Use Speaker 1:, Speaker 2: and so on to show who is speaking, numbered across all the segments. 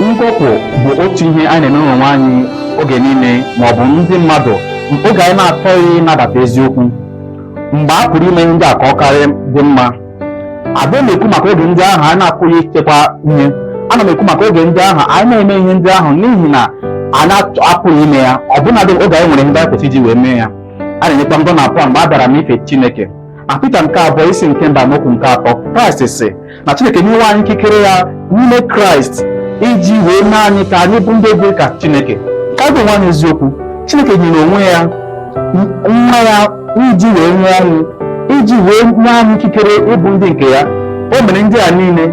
Speaker 1: ngọpụ bụ otu ihe anyị na-eme onwe anyị oge niile ma ọ bụ ndị mmadụ oge anyị na-achọghị ịnabata eziokwu mgbe a pụrụ ime ihe ndị a ka ọ karịa dị mma adịghị m ekwu maka oge ndị ahụ anyị na-apụghị ichekwa ihe ana m ekwu maka oge ndị ahụ anyị na-eme ihe ndị ahụ n'ihi na anyị apụghị ime ya ọbụnadị oge anyị nwere ihe ndị anyị kwesịrị iji wee mee ya a na-enyekwa ngọ na apụ mgbe a bịara n'ife Chineke na Pita nke abụọ isi nke mbụ amaokwu nke atọ Kraịst sị na Chineke enyewo anyị ikikere ya n'ime Kraịst iji wee mee anyị ka anyị bụ ndị dị ka Chineke ka anyị gwa onwe anyị eziokwu Chineke nyere onwe ya nwa ya iji wee nwụọ ọnwụ iji wee nye anyị ikikere ịbụ ndị nke ya o mere ndị a niile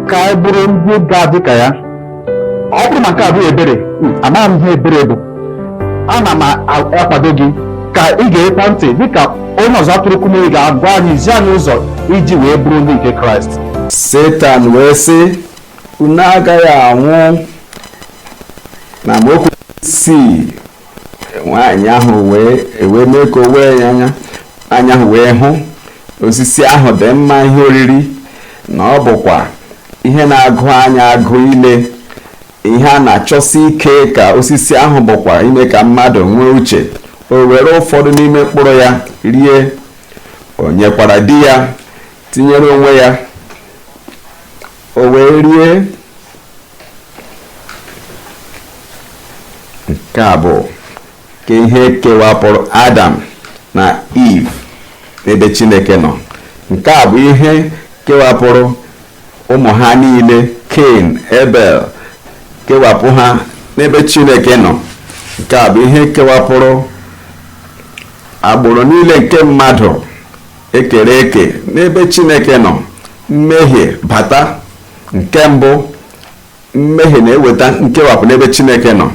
Speaker 1: ka anyị bụrụ ndị ga-adị ka ya ọ bụrụ ma nke a abụghị ebere amaghị m ihe ebere bụ ana m akwado gị ka ị gekwaa ntị dịka onye ọzụzụ atụrụ kumuyi ga-agwa anyị zi anyị ụzọ iji wee bụrụ ndị nke kraịst
Speaker 2: setan wee sị unu agaghị anwụ na amaokwu isii nwaanyị ahụ wee ewee mee ka o wee ya anya nwaanyị ahụ wee hụ osisi ahụ dị mma ihe oriri na ọ bụkwa ihe na-agụ anya agụ ile ihe a na-achọsi ike ka osisi ahụ bụkwa ime ka mmadụ nwee uche o were ụfọdụ n'ime mkpụrụ ya rie o nyekwara di ya tinyere onwe ya o wee rie nke a bụ ka ihe kewapụrụ adam na iv n'ebe chineke nọ nke a bụ ihe kewapụrụ ụmụ ha niile ken ebel kewapụ ha n'ebe chineke nọ nke a bụ ihe kewapụrụ agbụrụ niile nke mmadụ ekere eke n'ebe chineke nọ mmehie bata nke mbụ mmehie na-eweta nkewapụ n'ebe chineke nọ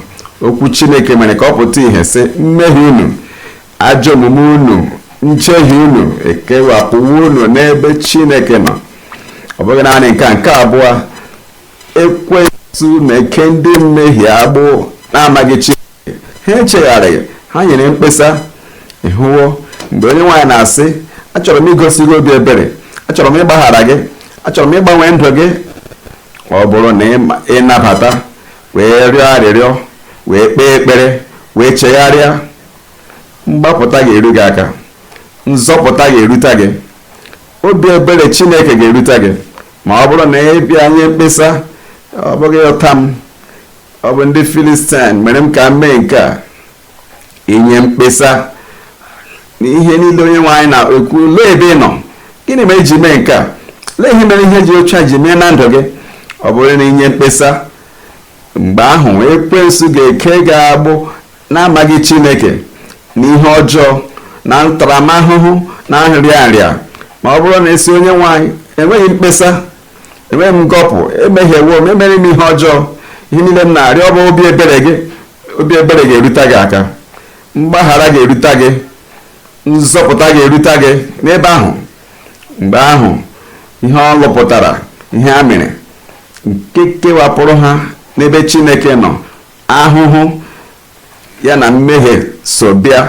Speaker 2: okwu chineke mere ka ọ pụta ihe sị mmehie unu ajọ omume unu njehie unu ekewapụwo unu n'ebe chineke nọ ọ bụghị naanị nke a nke abụọ ekwensu na-eke ndị mmehie agbụ na-amaghị chineke ha echegharịghị ha nyere mkpesa ị hụwo mgbe onyenwe anyị na-asị achọrọ m igosi gị obi ebere achọrọ m ịgbaghara gị achọrọ m ịgbanwe ndụ gị ọ bụrụ na ị nabata wee rịọ arịrịọ wee kpee ekpere wee chegharịa mgbapụta ga-eru gị aka nzọpụta ga-erute gị obi ebere chineke ga-erute gị ma ọ bụrụ na ị bịa nye mkpesa ọ bụghị ụta m ọ bụ ndị filistin mere m ka m mee nke a inye mkpesa na ihe niile onye nwe anyị na-ekwu lee ebe ị nọ gịnị mere i ji mee nke a lee ihe mere ihe dị otu a ji mee na ndụ gị ọ bụrụ na i nye mkpesa mgbe ahụ ekwensu ga-eke gị agbụ n'amaghị chineke na ihe ọjọọ na ntaramahụhụ na nrịanrịa ma ọ bụrụ na ị sị onye nwe anyị enweghị m mkpesa enweghị m ngọpụ emehiewo m emere m ihe ọjọọ ihe niile m na-arịọ bụ obi ebere gị obi ebere ga-erute gị aka mgbaghara ga-erute gị nzọpụta ga-erute gị n'ebe ahụ mgbe ahụ ihe ọ lụpụtara ihe a mere nke kewapụrụ ha n'ebe chineke nọ ahụhụ ya na mmehie so bịa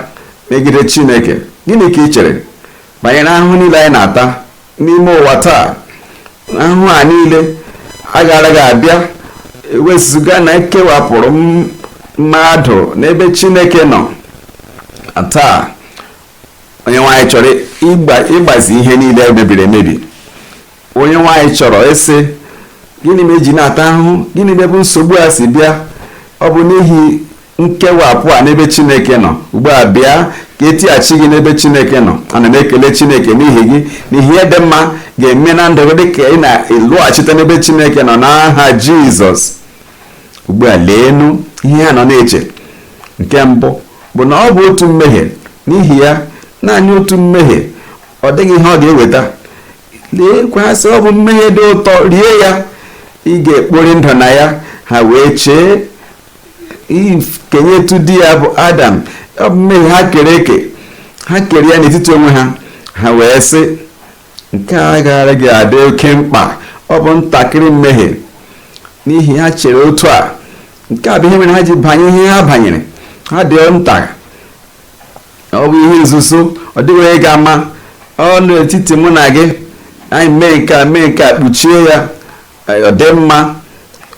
Speaker 2: megide Chineke. Gịnị ka ị chere banyere ahụhụ niile anyị na-ata n'ime ụwa taa? Ahụhụ a niile agaaraghị abịa ewezụga na e kewapụrụ m- mmadụ n'ebe Chineke nọ. Taa, onye nwe anyị chọrọ ịgbazi ihe niile mebiri emebi onye nwe anyị chọrọ ịsị gịnị mere e ji na-ata ahụhụ gịnị ma ebe nsogbu a si bịa ọ bụ n'ihi nkewapụ a n'ebe chineke nọ ugbu a bịa ka e tighachi gị n'ebe chineke nọ ana m ekele chineke n'ihi gị n'ihi ihe dị mma ga-eme na ndụ gị dịka ị na-alọghachite n'ebe chineke nọ n'aha jizọs ugbu a leenụ ihe ha nọ na-eche nke mbụ bụ na ọ bụ otu mmehie n'ihi ya naanị otu mmehie ọ dịghị ihe ọ ga-eweta leekwa ha sị ọ bụ mmehie dị ụtọ rie ya ị ga-ekpori ndụ na ya ha wee chee kenyetụ di ya bụ adam ọ bụ mmehie ha kere eke ha kere ya n'etiti onwe ha ha wee sị Nke a agaaraghị adị oke mkpa. Ọ bụ ntakịrị mmehie n'ihi ha chere otu a. Nke a bụ ihe mere ha ji banye ihe ha banyere. Ha dị nta. Ọ bụ ihe nzuzo. Ọ dịghị onye ga-ama. Ọ nọ n'etiti mụ na gị. Anyị mee nke a mee nke a kpuchie ya. ọ dị mma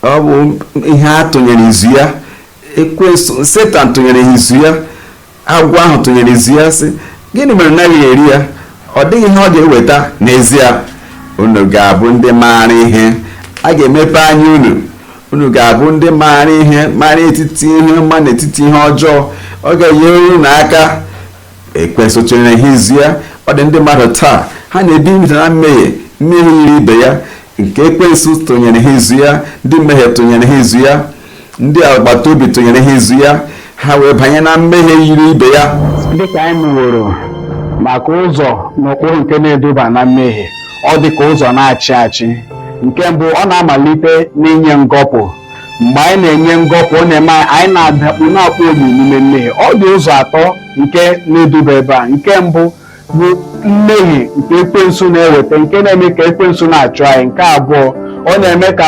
Speaker 2: ọ bụ ihe a tụnyere izu ya ekwensu setan tụnyere izu ya agwọ ahụ tụnyere izu ya sị gịnị mere ị naghị eri ya ọ dịghị ihe ọ ga-eweta n'ezie unu ga-abụ ndị maara ihe a ga-emepe anya unu unu ga-abụ ndị maara ihe maara etiti ihe ọma n'etiti ihe ọjọọ ọ ga-enyere unu aka ekwensu tụnyere ha izu ya ọ dị ndị mmadụ taa ha na-ebi ndụ na mmehie mmehie yiri ibe ya nke ekwensu tụnyere ha izu ya ndị mmehie tụnyere ha izu ya ndị agbata obi tụnyere ha izu ya ha wee banye na mmehie yiri ibe ya dịka anyị
Speaker 1: mụworo maka ụzọ na ụkpụrụ nke na-eduba na mmehie ọ dị ka ụzọ na-achị achị nke mbụ ọ na-amalite n'inye ngọpụ mgbe anyị na-enye ngọpụ ọ na-eme anyị anyị na-adakpu na-akpọ obi n'ime mmehie ọ dị ụzọ atọ nke na-eduba ebe a nke mbụ bụ mmehie nke ekwensu na-eweta nke na-eme ka ekwensu na-achụ anyị nke abụọ ọ na-eme ka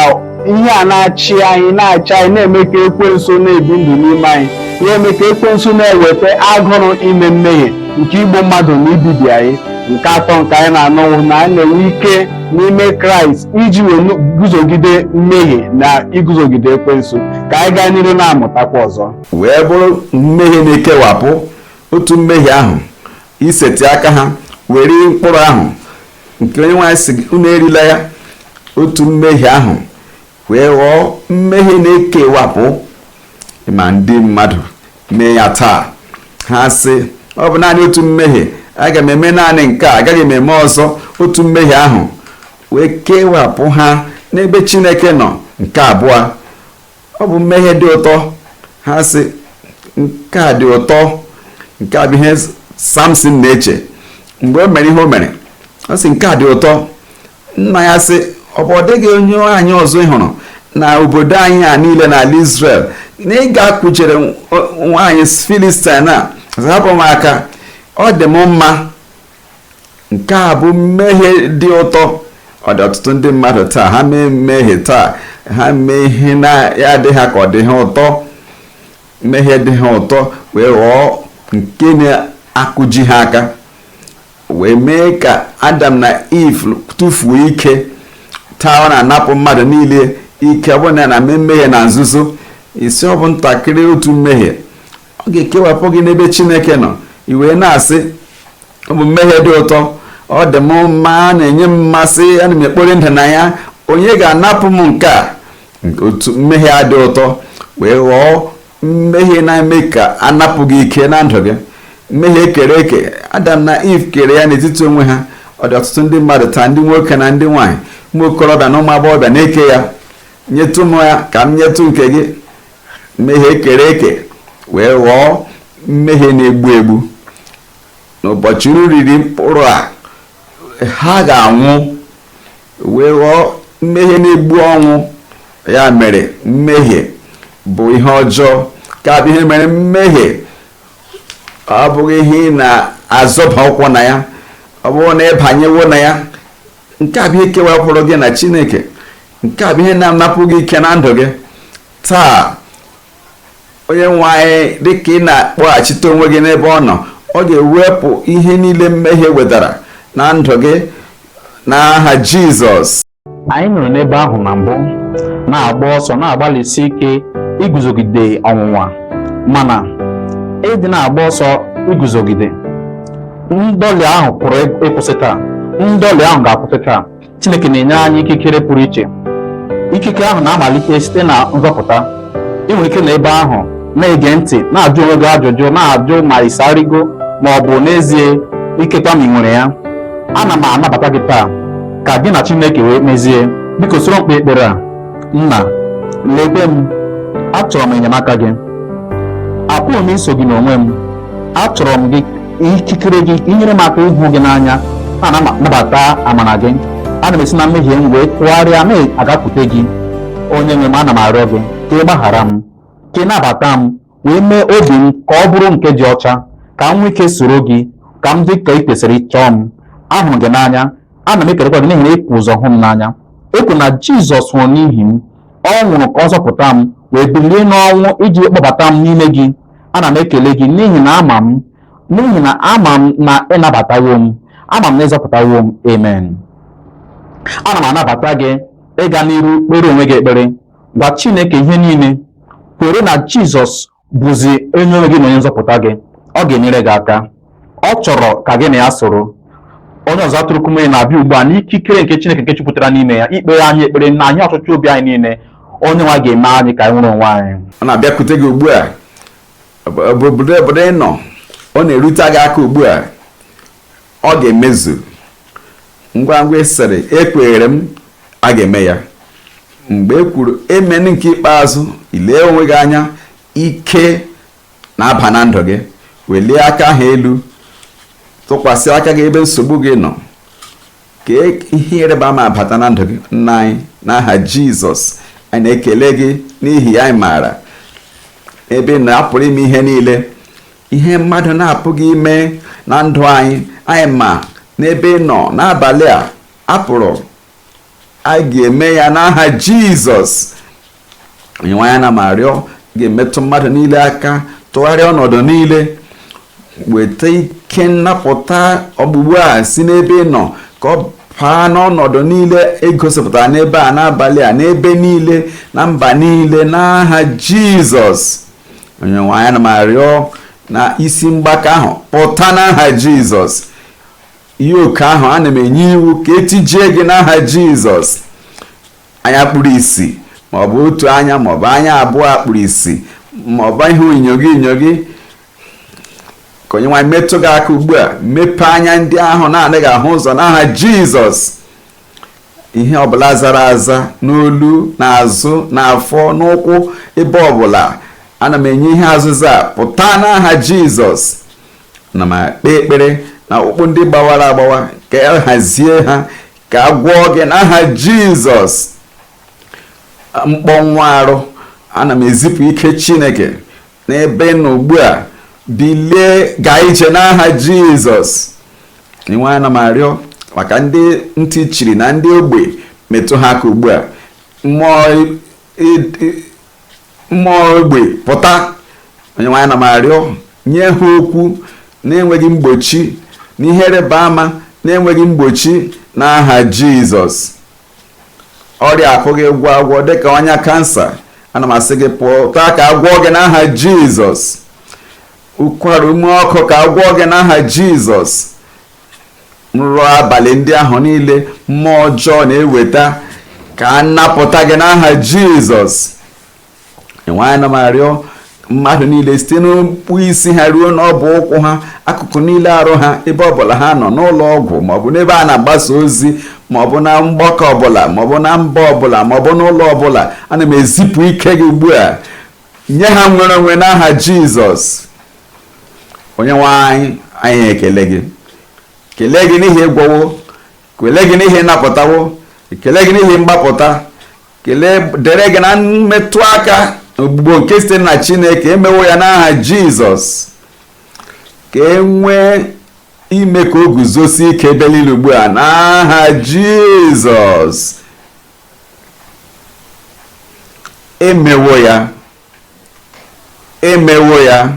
Speaker 1: ihe a na-achị anyị na-achị anyị na-eme ka ekwensu na-ebi ndụ n'ime anyị na-eme ka ekwensu na-eweta agụrụ ime mmehie nke igbu mmadụ na ibibi anyị nke atọ nke anyị na-anọwụ na anyị na-enwe ike n'ime kraịst iji wee nu- guzogide mmehie na iguzogide ekwensu ka anyị gaa n'iru na-amụtakwa ọzọ wee bụrụ
Speaker 2: mmehie na-ekewapụ otu mmehie ahụ isetị aka ha were mkpụrụ ahụ nke onyenwe anyị sị unu erila ya otu mmehie ahụ wee ghọọ mmehie na-ekewapụ ma ndị mmadụ mee ya taa ha sị ọ bụ naanị otu mmehie aga m eme naanị nke a agaghị m eme ọzọ otu mmehie ahụ wee kewapụ ha n'ebe chineke nọ nke abụọ ọ bụ mmehie dị ụtọ ha sị nke a dị ụtọ nke a bụ ihe samson na-eche mgbe o mere ihe o mere ọ sị nke a dị ụtọ nna ya sị ọ bụ ọ dịghị onye nwaanyị ọzọ ị hụrụ na obodo anyị a niile n'ala Israel na ị ga-akwụjere nwaanyị Filistin ọ sị hapụ m aka ọ dị m mma nke a bụ mmehie dị ụtọ ọ dị ọtụtụ ndị mmadụ taa ha mee mmehie taa ha mee ihe na-adị ha ka ọ dị ha ụtọ mmehie dị ha ụtọ wee ghọọ nke na-akụji ha aka Wee mee ka Adam na Iv tụfuo ike. Taa ọ na-anapụ mmadụ niile ike ọ bụrụ na ị na-eme mmehie na nzuzo. Ị sị ọ bụ ntakịrị otu mmehie ọ ga-ekewapụ gị n'ebe Chineke nọ i wee na-asị ọ bụ mmehie dị ụtọ ọ dị m mma ọ na-enye m mmasị ana m ekpori ndụ na ya onye ga-anapụ m nke a otu mmehie a dị ụtọ wee ghọọ mmehie na-eme ka a napụ gị ike na ndụ gị mmehie e kere eke adam na iv kere ya n'etiti onwe ha ọ dị ọtụtụ ndị mmadụ taa ndị nwoke na ndị nwaanyị ụmụ okorobịa na ụmụ agbọghọbịa na-eke ya nyetụ m ya ka m nyetụ nke gị mmehie e kere eke wee ghọọ mmehie na-egbu egbu n'ụbọchị unu riri mkpụrụ a ha ga-anwụ wee ghọọ mmehie na-egbu ọnwụ ya mere mmehie bụ ihe ọjọọ nke a bụ ihe mere mmehie ọ bụghị ihe ị na-azọba ụkwụ na ya ọ bụrụ na ị banyewo na ya nke a bụ ihe kewapụrụ gị na chineke nke a bụ ihe na-anapụ gị ike na ndụ gị taa onye nwe anyị dịka ị na-akpọghachite onwe gị n'ebe ọ nọ ọ ga-ewepụ ihe niile mmehie wetara na ndụ gị n'aha Jizọs anyị nọrọ
Speaker 1: n'ebe ahụ na mbụ na-agba ọsọ na-agbalịsi ike iguzogide ọnwụnwa mana ịdị na-agba ọsọ iguzogide ndọlị ahụ pụrụ ịkwụsị taa ndọlị ahụ ga-akwụsị taa Chineke na-enye anyị ikikere pụrụ iche ikike ahụ na-amalite site na nzọpụta ị nwere ike na ebe ahụ na-ege ntị na-ajụ onwe gị ajụjụ na-ajụ ma ịsarigo ma ọ bụ n'ezie ikekwa ma ị nwere ya ana m anabata gị taa ka gị na Chineke wee mezie biko soro m kpee ekpere a nna lekwe m achọrọ m enyemaka gị apụghị m iso gị n'onwe m achọrọ m gị ikikere gị inyere m aka ịhụ gị n'anya ana m anabata amara gị ana m esi na mmehie m wee tụgharịa ma gakwute gị onye nwe m ana m arịọ gị ka ị gbaghara m ka ị nabata m wee mee obi m ka ọ bụrụ nke dị ọcha ka m nwee ike soro gị ka m dị ka ị kwesịrị chọọ m ahụrụ gị n'anya ana m ekelekwa gị n'ihi na i bu ụzọ hụ m n'anya ekwere m na jizọs nwụrụ n'ihi m ọ nwụrụ ka ọ zọpụta m wee bilie n'ọnwụ iji kpọbata m n'ime gị ana m ekele gị n'ihi na ama m n'ihi na ama m na ị nabatawo m ama m na ị zọpụtawo m amen ana m anabata gị ịga n'iru kpere onwe gị ekpere gwa chineke ihe niile kwere na jizọs bụzi onye nwe gị na onye nzọpụta gị ọ ga-enyere gị aka ọ chọrọ ka gị na ya soro onye ọzụzụ atụrụ Kumuyi na-abịa ugbu a n'ikikere nke Chineke nke jupụtara n'ime ya ikpere anyị ekpere nye anyị ọchịchọ obi anyị niile onye nwe anyị ga-eme anyị ka anyị nwere onwe anyị ọ na-abịakwute gị ugbu
Speaker 2: a obodo ị nọ ọ na-erute gị aka ugbu a ọ ga-emezu ngwa ngwa ị sịrị ekweere m a ga-eme ya mgbe e kwuru amen nke ikpeazụ i lee onwe gị anya ike na-aba na ndụ gị welie aka ahụ elu tụkwasị aka gị ebe nsogbu gị nọ ka ihe ịrịba ama bata na ndụ gị nna anyị n'aha jizọs anyị na-ekele gị n'ihi anyị maara n'ebe ị nọ a pụrụ ime ihe niile ihe mmadụ na-apụghị ime na ndụ anyị anyị ma n'ebe ị nọ n'abalị a a pụrụ a ga-eme ya n'aha jizọs onyenwe anyị ana m arịọ ga-emetụ mmadụ niile aka tụgharịa ọnọdụ niile weta ike nnapụta ugbu ugbu a si n'ebe ị nọ ka ọ baa n'ọnọdụ niile e gosipụtara n'ebe a n'abalị a n'ebe niile na mba niile n'aha jizọs onyenwe anyị ana m arịọ na isi mgbaka ahụ pụta n'aha jizọs yoke ahụ ana m enye iwu ka etijie gị n'aha jizọs anya kpuru isi maọbụ otu anya maọbụ anya abụọ kpuru isi maọbụ ịhụ inyoghi inyoghi ka onye nwe anyị metụ gị aka ugbu a mepee anya ndị ahụ na-anaghị ahụ ụzọ n'aha jizọs ihe ọbụla zara aza n'olu n'azụ n'afọ n'ụkwụ ebe ọbụla ana m enye ihe azụza pụta n'aha jizọs na m ekpe ekpere na ọkpụkpụ ndị gbawara agbawa ka a hazie ha ka a gwọọ gị n'aha jizọs mkpọnwụ arụ ana m ezipụ ike chineke n'ebe ị nọ ugbu a bilie gaa ije n'aha jizọs onye nwe anyị ana m arịọ maka ndị ntị chiri na ndị ogbi metụ ha aka ugbu a mmụọ mmụọ ogbi pụta onye nwe anyị ana m arịọ nye ha okwu na-enweghị mgbochi na ihe ịrịba ama na-enweghị mgbochi n'aha jizọs ọrịa a pụghị ịgwọ agwọ dịka ọnya kansa ana m asị gị pụta ka a gwọọ gị n'aha jizọs ụkwara ume ọkụ ka a gwọọ gị n'aha jizọs nrọ abalị ndị ahụ niile mmụọ ọjọọ na-eweta ka a napụta gị n'aha jizọs onye nwe anyị ana m arịọ mmadụ niile site n'okpu isi ha ruo n'ọbụ ụkwụ ha akụkụ niile arụ ha ebe ọbụla ha nọ n'ụlọ ọgwụ maọbụ n'ebe a na-agbasa ozi maọbụ na mgbakọ ọbụla maọbụ na mba ọbụla maọbụ n'ụlọ ọbụla ana m ezipụ ike gị ugbu a nye ha nnwere onwe n'aha jizọs onye nwe anyị anyị ekelee gị kelee gị n'ihi ị gwọwo kelee gị n'ihi ị napụtawo kelee gị n'ihi mgbapụta ekele dịrị gị na mmetụ aka ọgwụgwọ nke site na chineke emewo ya n'aha jizọs ka e nwee ime ka o guzosie ike ebe niile ugbu a n'aha jizọs emewo ya emewo ya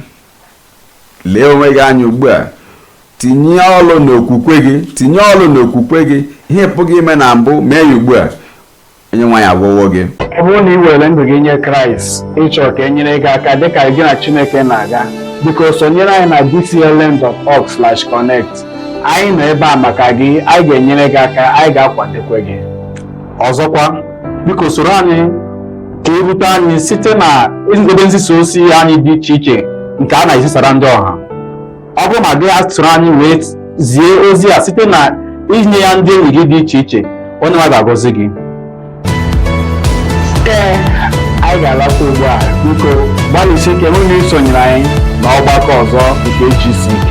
Speaker 2: lee onwe gị anya ugbu a tinye ọlụ n'okwukwe gị tinye ọlụ n'okwukwe gị ihe ị pụghị ime na mbụ mee ya ugbu a onye nwe anyị agwọwo gị ọ bụrụ na ị were
Speaker 1: ndụ gị nye kraịst ị chọọ ka e nyere gị aka dịka gị na chineke na-aga biko sonyere anyị na dclm.org/connect anyị nọ ebe a maka gị anyị ga-enyere gị aka anyị ga-akwadokwa gị ọzọkwa biko soro anyị ka i rute anyị site na ebe nzisa ozi anyị dị iche iche nke a na-ezisara ndị ọha ọ bụrụ na gị soro anyị wee zie ozi a site na inye ya ndị enyi gị dị iche iche onye nwe ga-agọzi gị ee anyị ga-alakwa ugbu a biko gbalịsie ike hụ na i sonyere anyị na ọgbakọ ọzọ nke GCK